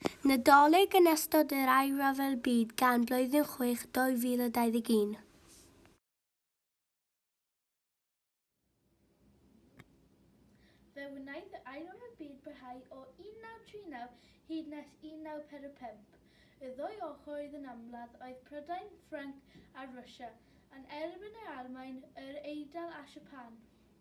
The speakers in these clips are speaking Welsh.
Nadolig yn ystod yr Ail Ryfel Byd gan Blwyddyn Chwech 2021. Fe wnaeth yr Ail Ryfel Byd barhau o 1939 hyd nes 1945. Y ddwy ochr oedd yn amledd oedd Prydain, Ffrainc a Rwsia, yn erbyn yr Almaen, yr Eidal a Siapan.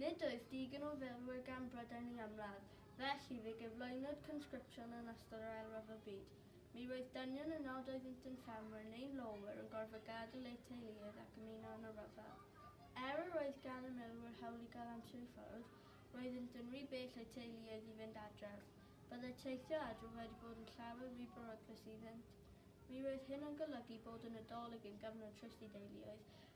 Nid oes digon o filwyr gan Brydain am ladd, felly fe gyflwynwyd consgripsiwn yn ystod yr Ail Ryfel Byd. Mi roedd dynion y nod oeddynt yn ffermwyr neu lawywyr yn gorfod gadael eu teuluoedd ac ymuno yn y rhyfel. Er yr oedd gan y milwyr hawl i gael amser i ffwrdd, roeddynt yn rhy bell a'u teuluoedd i fynd adref. Byddai teithio adref wedi bod yn llawer rhy beryglus iddynt. Mi roedd hyn yn golygu bod y Nadolig yn gyfnod trist i deuluoedd,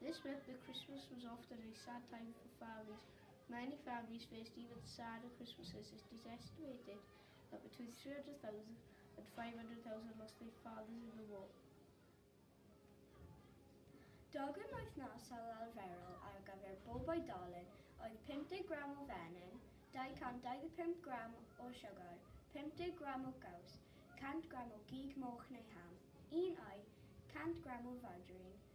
This meant that Christmas was often a sad time for families. Many families faced even sadder Christmases. It is estimated that between 300,000 and 500,000 lost their fathers in the war. Dogon wythnosol arferol ar gyfer bob oedolyn oedd 50 gram o fenyn, 225 gram o siwgr, 50 gram o gaws, 100 gram o gig moch neu ham, un oi, 100 gram o fargarin,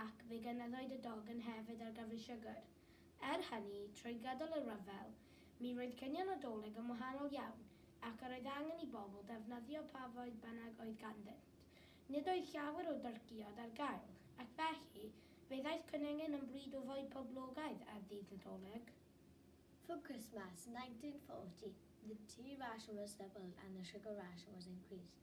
ac fe gynaddwyd y dogan hefyd ar gyfer siwgr. Er hynny, trwy gydol y rhyfel, mi roedd cinio Nadolig yn wahanol iawn, ac yr oedd angen i bobl ddefnyddio pa fwyd bynnag oedd ganddynt. Nid oedd llawer o dyrcïod ar gael, ac felly, fe ddaeth cwningen yn bryd o fwyd poblogaidd ar ddydd Nadolig. For Christmas, 1940, the tea ration was doubled and the sugar ration was increased.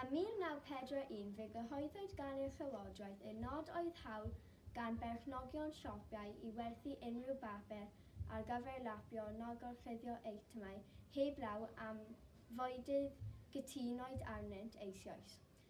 Ym 1941 fe gyhoeddwyd gan y Llywodraeth eu nod oedd hawl gan berchnogion siopiau i werthu unrhyw bapur ar gyfer lapio neu gorchuddio eitemau heb law am fwydydd gytunwyd arnynt eisioes.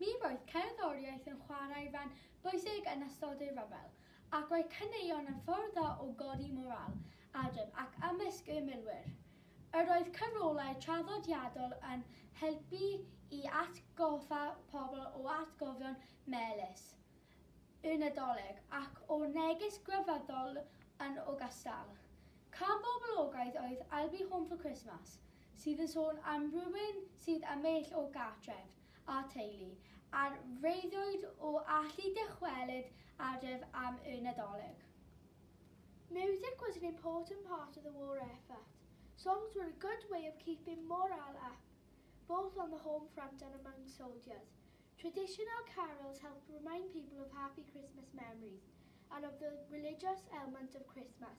Mi roedd cerddoriaeth yn chwarae rhan bwysig yn ystod ei ryfel, ac roedd caneuon yn ffordd dda o godi morâl, adref ac ymysg ei milwyr. Yr oedd cyfrolau traddodiadol yn helpu i atgoffa pobl o atgofion melys y Nadolig ac o neges grefyddol yn ogystal. Cân boblogaidd oedd 'I'll be home for Christmas', sydd yn sôn am rywun sydd am eill o gartref a theulu ar freuddwyd o allu dychwelyd adref am y Nadolig. Music was an important part of the war effort, songs were a good way of keeping morale up, both on the home front and among soldiers. Traditional carols helped remind people of happy Christmas memories and of the religious elment of Christmas,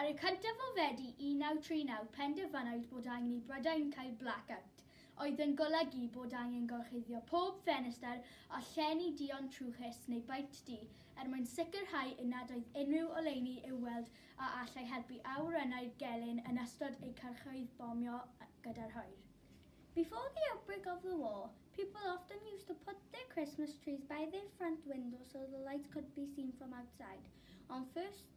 Ar y cyntaf o Fedi 1939 penderfynwyd bod angen i Brydain cael blackout, oedd yn golygu bod angen gorchuddio pob ffenestr a llenni duon trwchus neu baent du er mwyn sicrhau eu nad oedd unrhyw oleuni i'w weld a allai helpu awyrennau'r gelyn yn ystod eu cyrchoedd bomio gyda'r hwyr. Before the outbreak of the war, people often used to put their Christmas trees by their front windows so the lights could be seen from outside. On 1st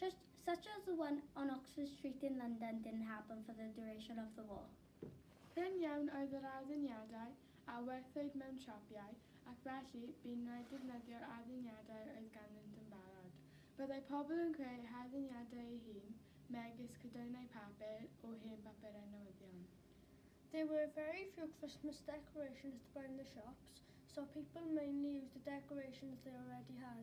Just such as the one on Oxford Street in London didn't happen for the duration of the war. Prin iawn oedd yr adduniadau a werthwyd mewn siapiau, ac felly, bu'n rhaid defnyddio'r adduniadau oedd ganddynt yn barod. Byddai pobl yn creu eu hadduniadau eu hun, megis cydoeddnau papur o hen bapurau newyddion. There were very few Christmas decorations to buy in the shops, so people mainly used the decorations they already had.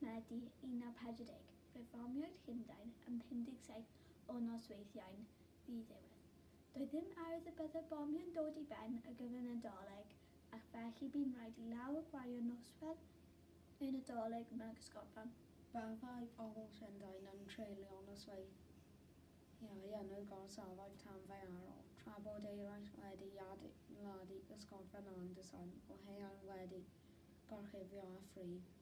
Medi 1940, fe fomiwyd Llundain yn 57 o nosweithiau'n ddiddiwedd. Doedd ddim arwydd y bydde'r bomiau'n dod i ben ar gyfer y Nadolig ac felly bu'n rhaid i lawer gwario noswedd y Nadolig mewn cysgodfan. Fe fyddai pobl Llundain yn treulio nosweithiau yn y gorsafoedd tanddaearol, tra bod eraill wedi adeiladu cysgodfan andros o haearn wedi gorchuddio â phri.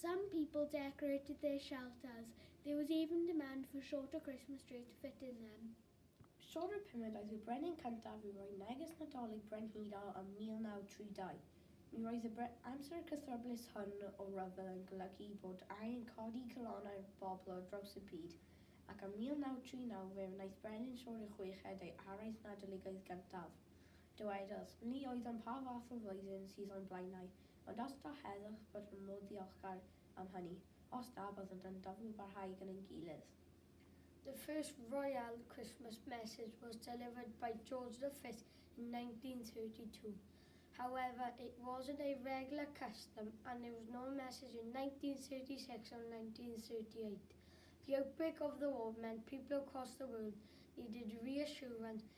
Some people decorated their shelters, there was even demand for shorter Christmas trees to fit in them. Sorry pumed oedd y brenin cyntaf i roi neges Nadolig brenhinol ym 1932. Mi roedd y bre amser cythryblus hwn o ryfel yn golygu bod angen codi calonnau'r bobl ar draws y byd, ac ym 1939 fe wnaeth Brenin Siôr y Chweched ei araith Nadoligaidd gyntaf. Dywedodd, Ni oeddwn pa fath o flwyddyn sydd o'n blaenau, ond os da heddwch bod yn modd ddiolchgar am hynny, os da byddant yn daflu parhau gyda'n gilydd. The first Royal Christmas message was delivered by George the Fifth in 1932. However, it wasn't a regular custom and there was no message in 1936 or 1938. The outbreak of the war meant people across the world needed reassurance